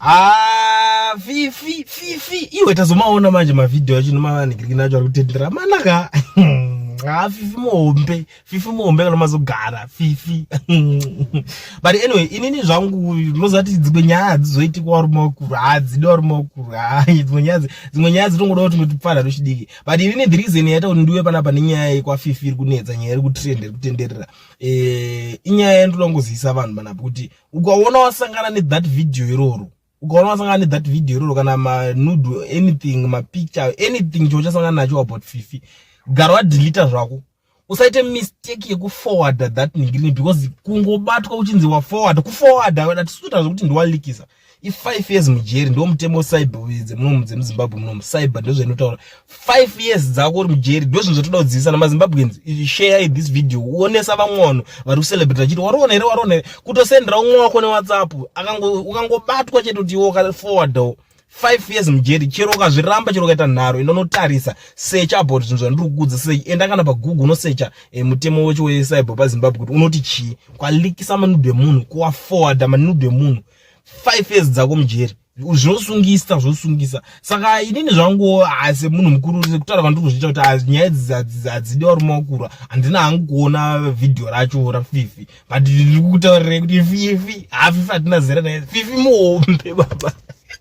Ah, fifi fifi iwe tazomaona manje mavhidhiyo acho nomavanhikirikina acho ari kutendera manaka ah fifi muhombe fifi muhombe kana mazogara fifi but anyway inini zvangu ndinozati dzimwe nyaya hadzizoitikwa warume wakuru hadzidi warume wakuru dzimwe nyaya dzimwe nyaya dzitongoda kuti ndotipfana tochidiki but inini the reason yaita kuti ndiuye panapa nenyaya yekwafifi iri kunetsa nyaya iri kutrend iri kutenderera eh, inyaya yandinoda kungozivisa vanhu panapa kuti ukaona wasangana ne that video iroro ukaona wasangana ne that video iroro kana ma nude anything ma picture anything cho chasangana nacho about fifi gara wa delete zvako usaite mistake yeku forwarder that ningiri because kungobatwa uchinzi wa forwarder ku forwarder wena tisuita zvekuti ndiwalikisa i5 years mujeri ndo mutemo cyber dzemunomu dzemuzimbabwe munomu cyber ndozvainotaura 5 years dzako uri mujeri ndozvinhu zvatoda kudzidzisa namazimbabweans share this video uonesa vamwe vanhu vari kucelebrate vachiti wariona here wariona here kutosendera umwe wako newhatsapp ukangobatwa chete kuti iwo ukaforwardawo 5 years mujeri chero ukazviramba chero ukaita nharo enda unotarisa search about zvinhu zvandiri kukuudza sei enda kana pagoogle unosecha eh, mutemo wecho wecyber pazimbabwe kuti unoti chii kwalikisa manudo emunhu kuwaforwarda manudo emunhu five years dzako mujeri zvinosungisa zvosungisa saka inini zvangu asi munhu mukuru sekutaura vandiri kuzviita kuti nyaya idzi hadzidiwa rume wakura handina hangu kuona vhidhiyo racho rafifi but ndiri kutaurira kuti fifi hafifi hatina zera naye fifi muhombe baba